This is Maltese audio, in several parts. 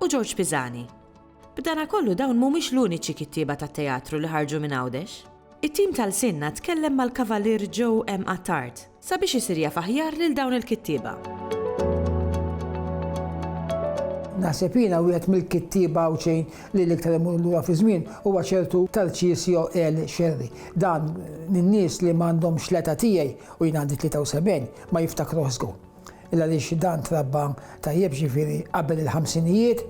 U Ġorġ Pisani. B'danakollu dawn mhumiex l-uniċi kittieba ta' teatru li ħarġu minn Għawdex. It-tim ta' lsienna tkellem mal-Kavalier Joe M. Attard sabiex isir jaf aħjar lil dawn il-kittieba. Naħseb jiena wieħed mill-kittieba Għawdxin li l-iktar imur lura fiż-żmien huwa ċertu Tarcisio L. Scerri. Dan, lin-nies li m'għandhomx l-età tiegħi, u jien għandi 73, ma jiftakruh żgur. Illa għaliex dan trabba tajjeb ġifieri qabel il-ħamsinijiet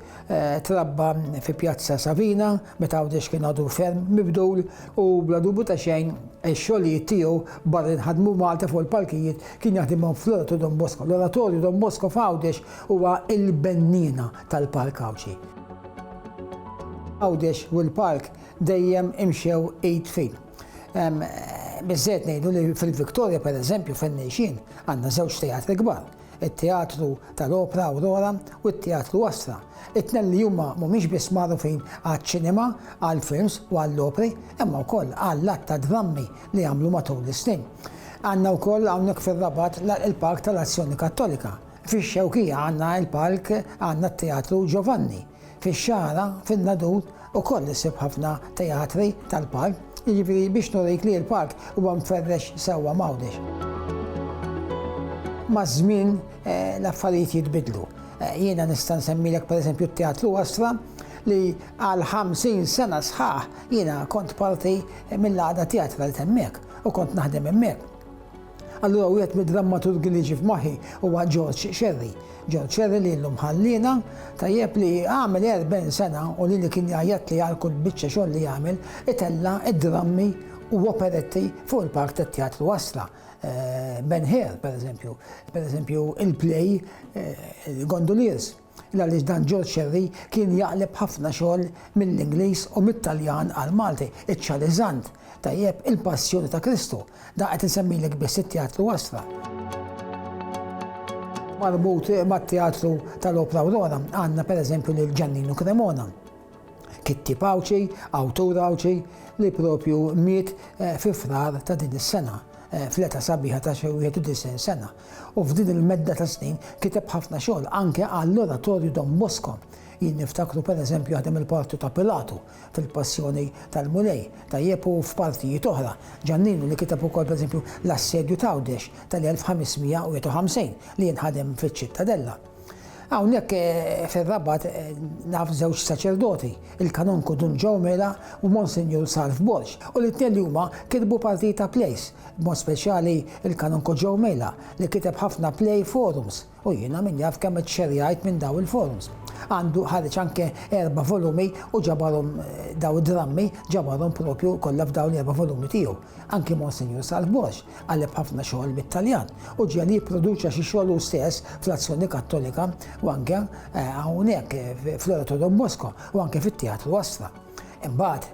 trabba fi Pjazza Savina meta Għawdex kien għadu ferm mibdul u bla dubju ta' xejn ix-xogħlijiet tiegħu barra li nħadmu Malta fuq il-palkijiet kien jaħdimhom fl-Oratorio Don Bosco. L-Oratorio Don Bosco f'Għawdex huwa l-benniena tal-Palk Għawdxi. Għawdex u l-Palk dejjem imxew id f'id. Hemm biżżejjed ngħidu li fil-Victoria pereżempju fejn ngħixin għandna żewġ teatri kbar, it-Teatru tal-Opra Aurora u t-Teatru Astra. It-tnejn li huma mhumiex biss magħrufin għaċ-ċinema, għall-films u għall-opri, imma wkoll għall-għadd ta' drammi li għamlu matul is-snin. Għandna wkoll hawnhekk fir-Rabat il-Palk tal-Azzjoni Kattolika. Fix-Xewkija għandna l-palk għandna t-Teatru Giovanni. Fix-Xagħra, fin-Nadur, ukoll issib ħafna teatri tal-park, jiġifieri biex nurik li l-park huwa mferrex sewwa m'Għawdex. Maż-żmien l-affarijiet jitbiddlu. Jiena nista' nsemmilek pereżempju t-Teatru Astra li għal 50 sena sħaħ jiena kont parti mill-għaqda teatrali t'hemmhekk u kont naħdem hemmhekk. Allura wieħed mid-drammaturgi li ġie f'moħħi huwa George Scerri. George Scerri li llum ħalliena, tajjeb li għamel 40 sena u lili kien jgħajjatli għal kull biċċa xogħol li għamel, itella' d-drammi u operetti fuq il-palk tat-Teatru Astra. Ben Hur, pereżempju, pereżempju il-play Gondoliers. Il għaliex dan George Xerri kien jaqleb ħafna xogħol mill-Ingliż u mit-Taljan għall-Malti, iċ-Ċariżant, tajjeb, il-Passjoni ta' Kristu, dan qed insemmilek biss it-Teatru Astra. Marbut mat-Teatru tal-Opra Aurora għandna pereżempju lil Ġanninu Cremona, kittib Għawdxi, awtur Għawdxi, li propju miet eh, fi frar ta' din is-sena eh, fl-età sabiħa ta' xi 91 sena. u f'din il-medda ta' snin kiteb ħafna xogħol anke għall-Oratorju Don Bosco. Jien niftakru pereżempju ħadem il-parti ta' Pilatu fil-Passjoni tal-Mulej, tajjeb u f'partijiet oħra. Ġanninu li kiteb ukoll pereżempju l-Assedju t'Għawdex tal-1551 li jien ħadem fiċ-Ċittadella. Hawnhekk fir-Rabat naf żewġ saċerdoti, il-Kanonku Dun Joe Mela u Monsinjur Sarf Borg, u li t-tnejn li huma kitbu parti ta' plays, b'mod speċjali il-Kanonku Joe Mela li kiteb ħafna play forums u jiena min jaf kemm iċċerjajt minn dawn il-forums. Għandu ħareġ anke erba' volumi u ġabarhom dawn id-drammi ġabarhom propju kollha f'dawn l-erba' volumi tiegħu. Anki Monsinjur Salvbosch għallem ħafna xogħol bit-Taljan u ġiegħel jipproduċa xi xogħol hu stess fl-Azzjoni Kattolika u anke hawnhekk fl-Oratorio Don Bosco u anke fit-Teatru Astra. Imbagħad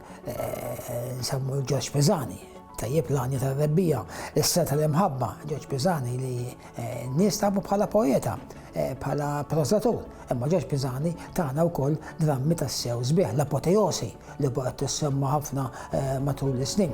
nsemmu Ġorġ Pisani, tajjeb l-għanja tar-rebbija, is-seta tal-imħabba, Ġorġ Pisani li eh, nies tafu bħala poeta, eh, bħala prosatur, imma Ġorġ Pisani tagħna wkoll drammi tas-sew sbieħ, l-apoteosi li baqgħet tissemma ħafna eh, matul is-snin.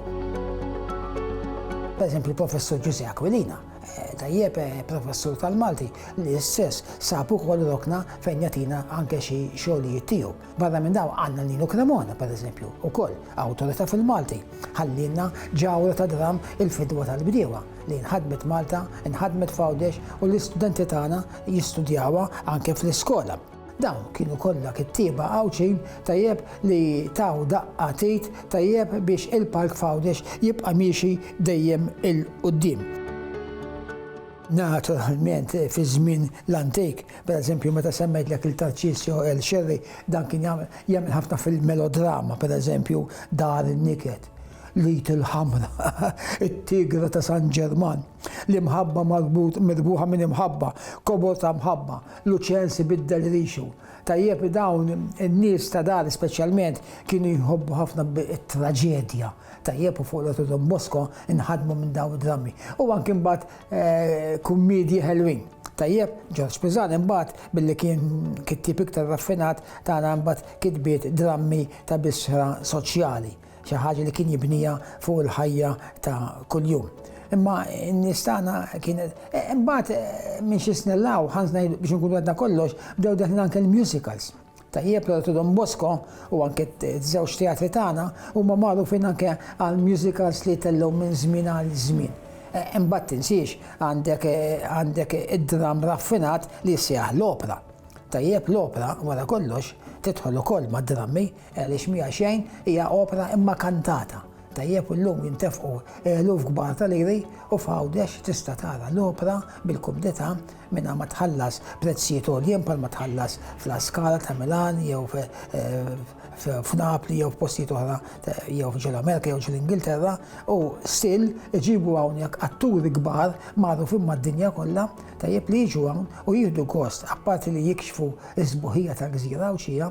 Per eżempju, professur Ġuże Aquilina, eh, tajjeb eh, professur tal-Malti li s-sess sabu kol rokna fejn jatina anke xi xogħlijiet tiegħu. Barra minn daw għandna Nino Cremona, per eżempju, ukoll awtorità fil-Malti. Ħallilna ġawra ta' dram il-fidwa tal-bdiewa li nħadmet Malta, nħadmet f'Għawdex u l-istudenti tagħna jistudjawha anke fl-iskola. Dawn kienu kollha kittieba Għawdxin tajjeb li taw daqqa t'id tajjeb biex il-Park f'Għawdex jibqa' miexi dejjem 'il quddiem. Naturalment fiż-żmien l-antik, pereżempju meta semmejtlek lil Tarċisio El Scerri, dan kien jagħmel ħafna fil-melodrama, pereżempju Dar in-Niket, L-Id il-Ħamra, It-Tigra ta' San Ġerman, L-Imħabba marbut mirbuħa minn imħabba, Kobor ta' mħabba, Luċenz ibiddel rixu. Tajjeb li dawn in-nies ta' dari speċjalment kienu jħobbu ħafna t-traġedja. Tajjeb u fuq l-Otto Don Bosco nħadmu minn dawn id-drammi. U anki mbagħad kummiedji ħelwin. Tajjeb, Ġorġ Piżan imbagħad billi kien kittieb iktar raffinat tana mbagħad kitbiet drammi ta' bisħra soċjali. Xi ħaġa li kien jibniha fuq il-ħajja ta' kuljum. Imma n-nies tagħna kienet. E, imbagħad e, minn xi snin law, ħanż ngħid biex nkunu għadna kollox, bdew deħlin anke l-musicals. Tajjeb l Don Bosco u anke t-żewġ teatri tagħna huma magħrufin anke għal musicals li tellgħu minn żmien għal żmien. E, imbagħad tinsiex għandek għandek id-dram raffinat li jsejjaħ l-opra. Tajjeb l-opra wara kollox tidħol ukoll mad-drammi Għaliex mija xejn hija opra imma kantata tajjeb u llum jintefqu eluf kbar ta' liri u f'Għawdex tista' tara l-opra bil-kumdità mingħajr ma tħallas prezzijiet għoljin bħalma tħallas f'La Scala ta' Milan jew f'Napli jew f'postijiet oħra jew ġo l-Amerika jew ġo l-Ingilterra u still iġibu hawn jekk atturi kbar magħrufin mad-dinja kollha tajjeb li jiġu hawn u jieħdu gost apparti li jikxfu s-sbuħija tal-gżira Għawdxija